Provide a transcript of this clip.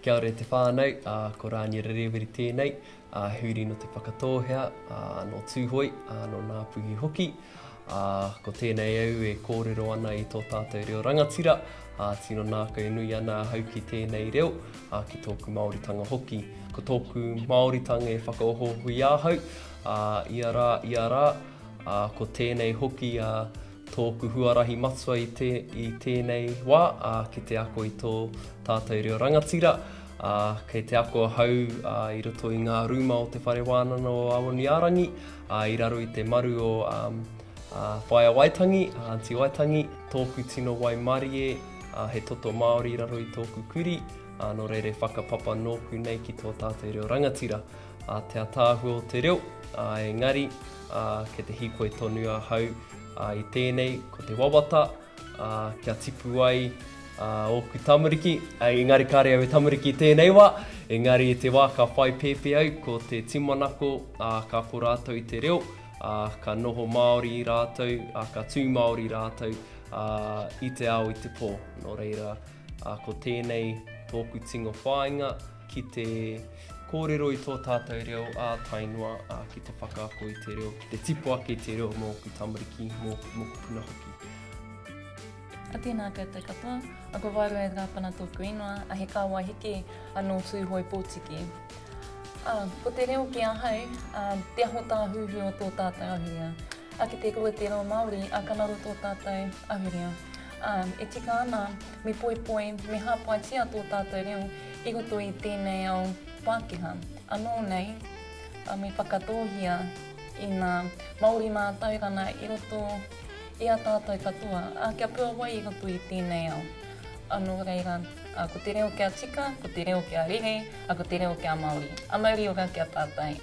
Kia ora e te whānau, ā, ko Rānia Rerewere tēnei, ā, huri nō Te Whakatōhea, ā, nō Tūhoe, ā, nō Ngāpuhi hoki. Ā, ko tēnei au e kōrero ana i tō tātou reo rangatira, ā, tino nākau nui ana ahau ki tēnei reo, ā, ki tōku Māoritanga hoki. Ko tōku Māoritanga e whakaohooho i ahau, ā, ia rā, ia rā, ā, ko tēnei hoki ā tōku huarahi matua i te, i tēnei wā, ā, ki te ako i tō tātou reo rangatira, ā, kei te ako ahau ā, i roto i ngā rūma o Te Whare Wānana o Awaniārangi, ā, i raro i te maru o ā, ā, Whaea Waitangi, a Anti Waitangi, tōku tino waimarie, ā, he toto Māori i raro i tōku kuri, ā, nō reira e whakapapa nōku nei ki tō tātou reo rangatira. a te ataahua o te reo, a engari, a ke te hikoi tonu a hau, a i tēnei, ko te wawata, a kia tipu ai, a oku tamariki, a engari kare au e tamariki tēnei wa, engari i te wa ka whai pēpē au, ko te timanako, a ka ko ratou i te reo, a ka noho Māori rātou, a ka tū Māori rātou, a i te ao i te po, no reira, a ko tēnei tōku tingo whāinga, ki te kōrero i tō tātou reo ā-tainua, ā, ki te whakaako i te reo, ki te tipu ake i te reo mō ōku tamariki, mō ōku puna hoki. A tēnā koutou katoa, a ko Waeroe Rapana tōku ingoa, a he kāwai hiki, a nō Tūhoe Pōtiki. Ā, ko te reo ki ahau, ā, te aho tāhuhu o tō tātou ahurea. A ki te kore te reo Māori a ka raro tō tātou ahurea. Ā, e tika ana, me poipoi, me hāpaitia tō tātou reo i roto i tēnei ao Pākehā. Anō nei, ā, me whakatōhia ina Māori mātauranga i roto i a tātou katoa, ā, kia puawai i roto i tēnei ao. Ā, nō reira, ā, ko te reo kia tika, ko te reo kia rere, ā, ko te reo kia Māori. Ā, mauri ora ki a tātou.